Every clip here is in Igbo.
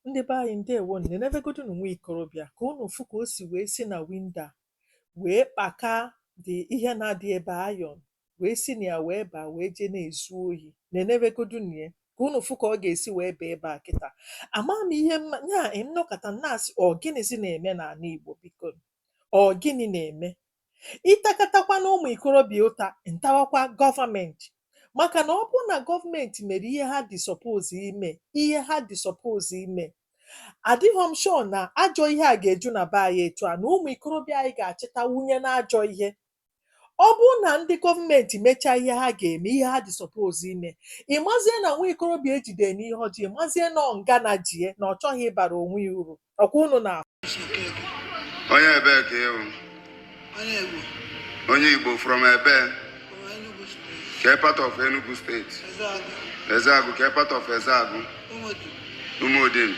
ndị be anyị ndewonụ nenebegodunụ nwa ikorobịa ka unu fụ ka o si wee si na winda wee kpaka dị ihe na-adị ebe ayọn wee si na ya wee baa wee jee na-ezu ohi nenebegodunụ ya ka unu fụ ka ọ ga-esi wee baa ebe a kịta ama m ihe m ya-eme nọkata na-asị ọ gịnịzi na-eme n'ala Igbo biko ọ gịnị na-eme ị takatakwanụ ụmụ ikorobịa ụta m tawakwa gọọmenti maka na ọ bụrụ na gọọmenti mere ihe ha dị suppose ime ihe ha dị suppose ime adịghị m sure na ajọ ihe a ga-eju na be anyị etu a na ụmụ ikorobịa anyị ga-achịta wunye na ajọ ihe ọ bụrụ na ndị gọọmenti mechaa ihe ha ga-eme ihe ha dị suppose ime ị mazie na nwa ikorobịa e jide n'ihe ọjọọ ị mazie na ọ ngana ji ya na ọ chọghị ịbara onwe ya uru ọkwa unu na onye ebee ka ị wụ onye igbo from ebee ke part of enugu steeti ezeagụ ke part of ezeagụ umudim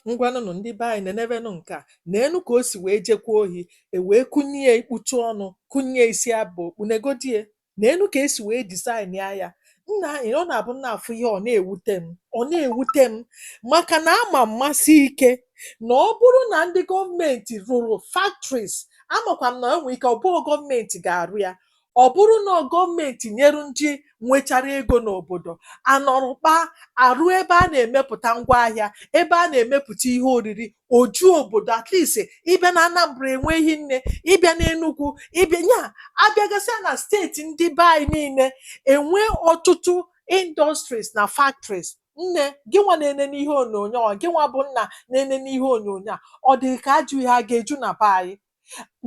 ngwanụnụ ndị be anyị nenebenụ nke a neenụ ka o si wee jekwa ohi e wee kụnye ikputu ọnụ kụnye isi abụ okpu negodi ya neenụ ka e si wee dizaịnịa ya nna anyị ọ na-abụ m na-afụ ihe ọ na-ewute m ọ na-ewute m maka na ama m masie ike na ọ bụrụ na ndị gọọmenti rụrụ factories amakwa m na enwe ike ọ bụghị gọọmenti ga-arụ ya ọ bụrụ na ọ gọọmenti nyere ndị nwechara ego n'obodo a nọrọ kpaa arụọ ebe a na-emepụta ngwaahịa ebe a na-emepụta ihe oriri o ju obodo at least ị bịa na Anambra enweghị nne ị bịa n'Enugwu ị bịa ya abịagasịa na steeti ndị be anyị niile e nwee ọtụtụ industries na factories nne gị nwa na-enene ihe onyonyo a gị nwa bụ nna na-enene ihe onyonyo a ọ dị ka ajọ ihe a ga-eju na be anyị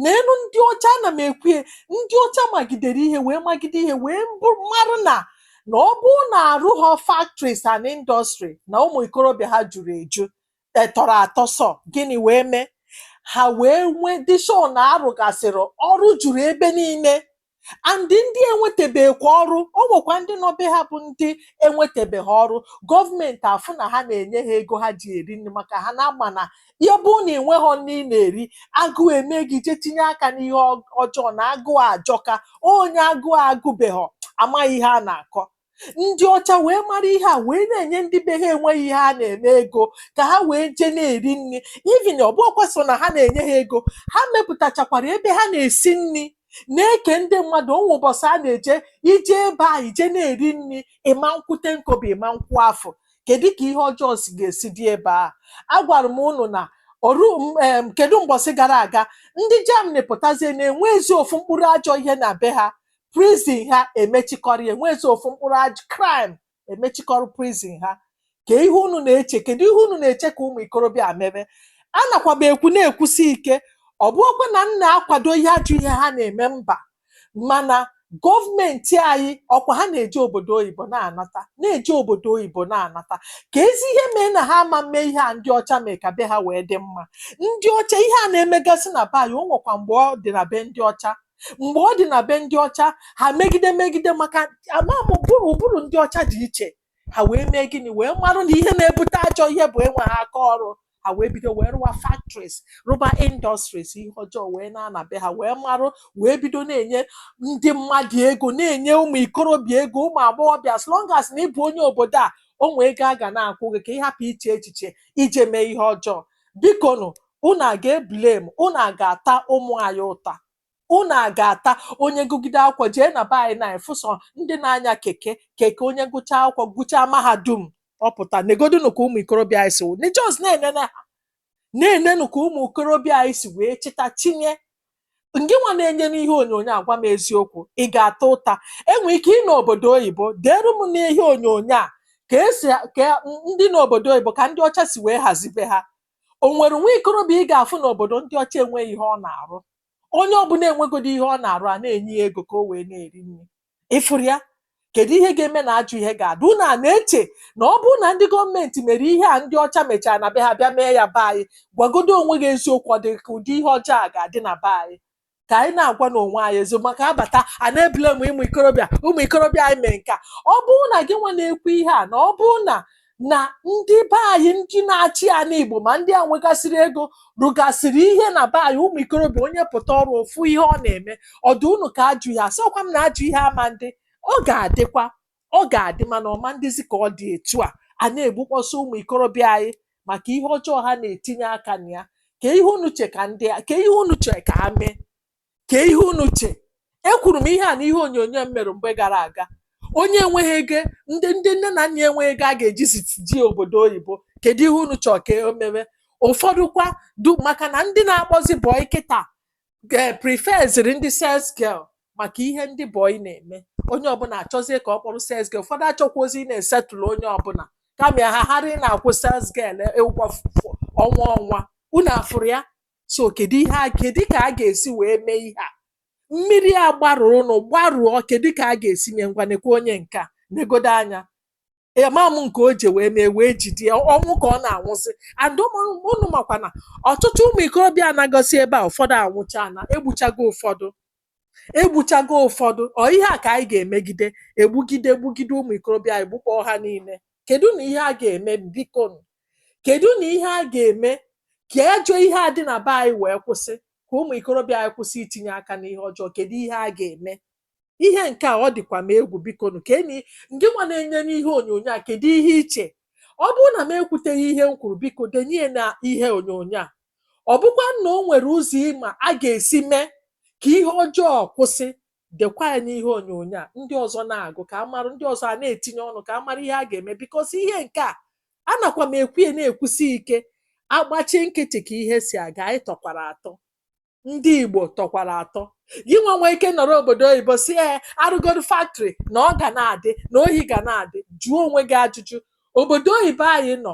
neenụ ndị ọcha ana m ekwu ya ndị ọcha magidere ihe wee magide ihe wee bụ- marụ na na ọ bụrụ na arụghọ factories and industry na ụmụ ikorobịa ha juru eju e tọrọ atọ so gịnị wee mee ha wee nwee dị sure na a rụgasịrị ọrụ juru ebe niile and ndị enwetebekwa ọrụ o nwekwa ndị nọ be ha bụ ndị enwetebeghị ọrụ gọọmenti afụ na ha na-enye ha ego ha ji eri nri maka ha na-ama na ya bụ na i nweghọ nri ị na-eri agụụ eme gị jee tinye aka n'ihe ọ- ọjọọ na agụụ ajọka onye agụụ agụbeghọ amaghị ihe a na-akọ ndị ọcha wee mara ihe a wee na-enye ndị be ha enweghị ihe ha na-eme ego ka ha wee jee na-eri nri even ọ bụghọkwa sọ na ha na-enye ha ego ha mepụtachakwara ebe ha na-esi nri na-eke ndị mmadụ o nwee ụbọchị a na-eje i jee ebe a i jee na-eri nri ị ma nkwụ ten kọbọ ị ma nkwụ afụ kedu ka ihe ọjọọ si ga-esi dị ebe a agwara m unu na oru m- em, kedu mbọsị gara aga ndị Germany pụtazie na enwezi ofu mkpụrụ ajọ ihe na be ha prison ha emechikọrọ ya enwezi ofu mkpụrụ aj crime emechikọrọ prison ha ka ihe unu na-eche kedu ihe unu na-eche ka ụmụ ikorobịa a mebe anakwa m ekwu na-ekwusi ike ọ bụrọkwa na m na-akwado ihe ajọ ihe ha na-eme mba mana gọọmenti anyị ọkwa ha na-eje obodo oyibo na-anata na-eje obodo oyibo na-anata keezi ihe mee na ha ama mme ihe a ndị ọcha mee ka be ha wee dị mma ndị ọcha ihe a na-emegasị na be anyị o nwekwa mgbe ọ dị na be ndị ọcha mgbe ọ dị na be ndị ọcha ha megide megide maka amam ụbụrụ ụbụrụ ndị ọcha dị iche ha wee mee gịnị wee marụ na ihe na-ebute ajọ ihe bụ enweghị aka ọrụ ha wee bido wee rụwa factories rụba industries ihe ọjọọ wee naa na be ha wee marụ wee bido na-enye ndị mmadụ ego na-enye ụmụ ikorobịa ego ụmụ agbọghọbịa as long as na ị bụ onye obodo a o nwee ego a ga na-akwụ gị ka ị hapụ iche echiche ije mee ihe ọjọọ bikonụ Unu a ga eblame, unu a ga ata ụmụ anyị ụta, unu a ga ata onye gụgide akwụkwọ jee na be anyị na afụ sọ ndị na anya keke, keke onye gụchaa akwụkwọ gụchaa mahadum ọ pụta, negodunu ka ụmụ ikorobịa anyị si wụ, ne just na enene ha, na enenu ka ụmụ ikorobịa anyị si wee chịta chinye, ngịnwa na enene ihe onyonyo a gwa m eziokwu, ị ga ata ụta, e nwee ike ị nọ obodo oyibo, deere m n'ihe onyonyo a ka esi, ka ndị nọ obodo oyibo ka ndị ọcha si wee hazie be ha, O nwere nwa ikorobịa ị ga-afụ n'obodo ndị ọcha enweghị ihe ọ na-arụ. Onye ọbụla enwegodu ihe ọ na-arụ, a na-enye ya ego ka o wee na-eri nri. Ị fụrụ ya? Kedu ihe ga-eme na ajọ ihe ga-adị? Unu a na-eche na ọ bụrụ na ndị gọọmenti mere ihe a ndị ọcha mechara na be ha bịa mee ya be anyị, gwagodu onwe gị eziokwu, ọ dị ka ụdị ihe ọjọọ a ga-adị na be anyị? ka anyị na-agwanụ onwe anyị eziokwu maka a bata a na-eblame ụmụ ikorobịa ụmụ ikorobịa anyị mee nka ọ bụrụ na gị nwa na-ekwu ihe a na ọ bụrụ na na ndị be anyị ndị na-achị ana Igbo ma ndị a nwegasịrị ego rụgasịrị ihe na be anyị ụmụ ikorobịa onye pụta ọrụ ọ fụ ihe ọ na-eme ọ dị unu ka ajọ ihe asịrọkwa m na ajọ ihe ama ndị ọ ga-adịkwa Ọ ga-adị mana ọ ma ndịzi ka ọ dị etu a, a na-egbukpọsị ụmụ ikorobịa anyị maka ihe ọjọọ ha na-etinye aka na ya. Kee ihe unu che ka ndị a, kee ihe unu che ka ha mee? Kee ihe unu che? Ekwuru m ihe a n'ihe onyonyo m mere mgbe gara aga. Onye enweghị ego, ndị ndị nne na nna enweghị ego a ga-eji ziti je obodo oyibo. Kedu ihe unu chọrọ ka o mewe? Ụfọdụ kwa du maka na ndị na-akpọzi boy kịta ge- preferziri ndị sales girl maka ihe ndị boy na-eme onye ọbụla achọzie ka ọ kpọrọ sales girl ụfọdụ achọkwarọzi ịna-esettle onye ọbụla kama ya ha hara ịna-akwụ sales girl ụgwọ f- f- ọnwa ọnwa unu afụrụ ya so kedu ihe a kedu ka a ga-esi wee mee ihe a mmiri a gbarụrụnụ agbarụ kedu ka a ga-esi mee ngwa nekwa onye nke a negodo anya ya ma m nke o ji wee mee wee jide ya ọnwụ ka ọ na-anwụsị and ụmụ- ụnụ makwa na ọtụtụ ụmụ ikorobịa anagosị ebe a ụfọdụ anwụcha na egbuchago ụfọdụ egbuchago ụfọdụ ọ ihe a ka anyị ga-emegide egbugide egbugide ụmụ ikorobịa anyị gbukpọọ ha niile kedu na ihe a ga-eme biko nụ? kedu na ihe a ga-eme ka ajọ ihe a dị na be anyị wee kwụsị ka ụmụ ikorobịa anyị kwụsị itinye aka n'ihe ọjọọ kedu ihe a ga-eme ihe nke a ọ dịkwa m egwu biko nụ ka enyi ngị nwa na-ene m n'ihe onyonyo a kedu ihe i che ọ bụrụ na m ekwuteghị ihe m kwuru biko denye ya na ihe onyonyo a ọ bụkwa na o nwere ụzọ ị ma a ga-esi mee ka ihe ọjọọ kwụsị dekwa ya n'ihe onyonyo a ndị ọzọ na-agụ ka a mara ndị ọzọ a na-etinye ọnụ ka a mara ihe a ga-eme because ihe nke a anakwa m ekwu ya na-ekwusi ike a gbachi nkịtị ka ihe si aga anyị tọkwara atọ ndị Igbo tọkwara atọ gị nwa nwee ike nọrọ obodo oyibo sị ya arụgoro factory na ọ ga na-adị na ohi ga na-adị jụọ onwe gị ajụjụ obodo oyibo anyị nọ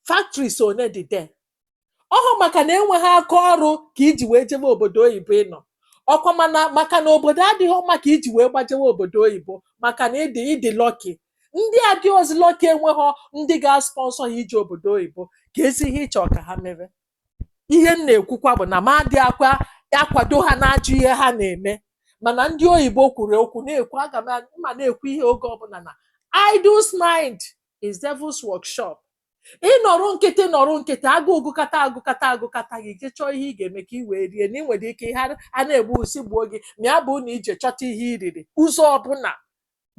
factories one dị there ọhụ maka na enweghị aka ọrụ ka i ji wee jebe obodo oyibo ị nọ ọkwa mana maka na obodo adịghị mma ka i ji wee gbajewe obodo oyibo maka na ị dị ị dị lucky ndị adịhọzi lucky enweghị ndị ga-asponsor ha ije obodo oyibo keezi ihe ị chọ ka ha mere ihe m na-ekwukwa bụ na m adịghịkwa akwado ha n'ajọ ihe ha na-eme mana ndị oyibo kwuru okwu na-ekwu aga m a- ma na-ekwu ihe oge ọbụla na idles mind is devil's workshop ị nọrọ nkịtị nọrọ nkịtị agụụ gụkata agụkata agụkata gị je chọọ ihe ị ga-eme ka ị wee rie na ị nwere ike ihe a na-egbu usi gbuo gị ma ya bụ na i je chọta ihe i riri ụzọ ọbụla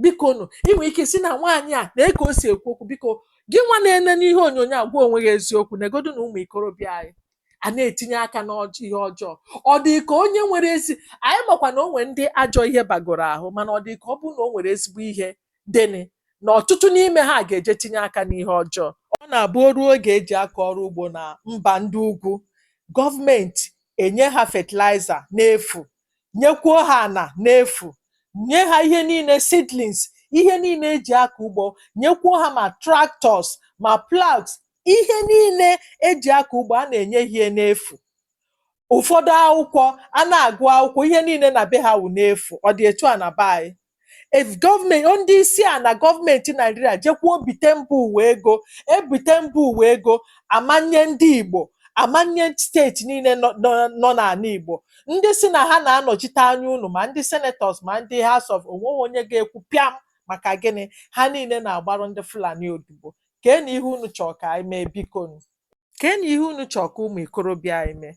biko nụ ị nwere ike sị na nwaanyị a nee ka o si ekwu okwu biko gị nwa na-ene n'ihe onyonyo a gwa onwe gị eziokwu negodu na ụmụ ikorobịa anyị a na-etinye aka n'ihe ọjọọ ọ dị ka onye nwere ezi anyị makwa na o nwere ndị ajọ ihe bagoro ahụ mana ọ dị ka ọ bụrụ na o nwere ezigbo ihe dịnị na ọtụtụ n'ime ha ga-eje tinye aka n'ihe ọjọọ ọ na-abụ o ruo oge eji akọ ọrụ ugbo na mba ndị ugwu gọọmenti enye ha fatịlaịza n'efu nyekwuo ha ana n'efu nye ha ihe niile seedlings ihe niile eji akọ ugbo nyekwuo ha ma tractors ma ploughs ihe niile eji akọ ugbo a na-enye ha ya n'efu ụfọdụ akwụkwọ a na-agụ akwụkwọ ihe niile na be ha wụ n'efu ọ dị etu a na be anyị? if gọọmenti ndị isi a na gọọmenti naijiria jekwuo bite mba ụwa ego e bite mba ụwa ego a ma nye ndị igbo a ma nye steeti niile nọ nọ- nọ n'ana igbo ndị sị na ha na-anọchite anya unu ma ndị senators ma ndị house of onweghị onye ga-ekwu pịam maka gịnị ha niile na-agbarụ ndị fulani odibo kee na ihe unu chọrọ ka anyị mee bikonu kee na ihe unu chọọ ka ụmụ ikorobịa anyị mee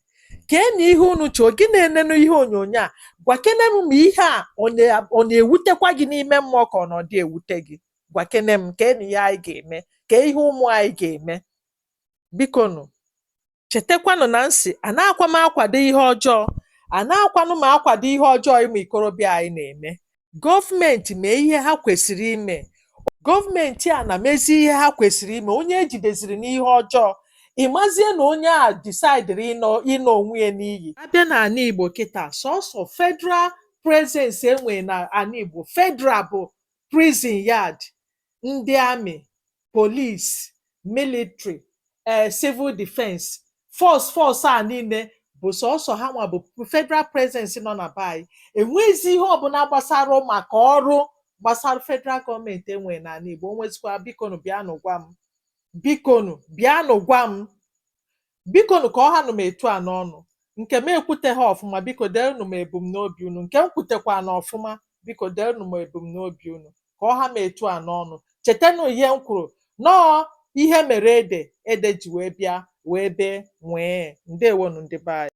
kee na ihe unu chọọ gị na-enenụ ihe onyonyo a gwakene m ma ihe a ọ na- ọ na-ewutekwa gị n'ime mmụọ ka ọ na ọ dị ewute gị gwakene m kee na ihe anyị ga-eme kee ihe ụmụ anyị ga-eme biko nụ chetakwanụ na m sị anaakwa m akwado ihe ọjọọ anaakwanụ m akwado ihe ọjọọ ụmụ ikorobịa anyị na-eme gọọmenti mee ihe ha kwesịrị ime gọọmenti a na mezie ihe ha kwesịrị ime onye e jideziri n'ihe ọjọọ ị mazie na onye a disaidịrị ịna onwe ya n'iyi a bịa na ana igbo kịta sọsọ federal presence e nwere na ana igbo federal bụ prison yard ndị army, police, military, ee civil defense, force force a niile bụ sọsọ ha nwa bụ federal presence nọ na be anyị enwezi ihe ọbụna gbasara maka ọrụ gbasara federal gọọmenti e nwere n'ana Igbo o nwezikwa bikonụ bịanụ gwa m bikonụ bịanụ gwa m Biko nụ ka ọ hanụ m etu a n'ọnụ. Nke m ekwuteha ọfụma, biko deenụ m ebumnobi unu. Nke m kwutekwaanụ ọfụma, biko deenụ m ebumnobi unu. Ka ọ ha m etu a n'ọnụ. Chetenụ ihe m kwuru, na ọọ ihe mere ede, ede ji wee bịa, wee bee, nwịị. Ndewonụ ndị be anyị.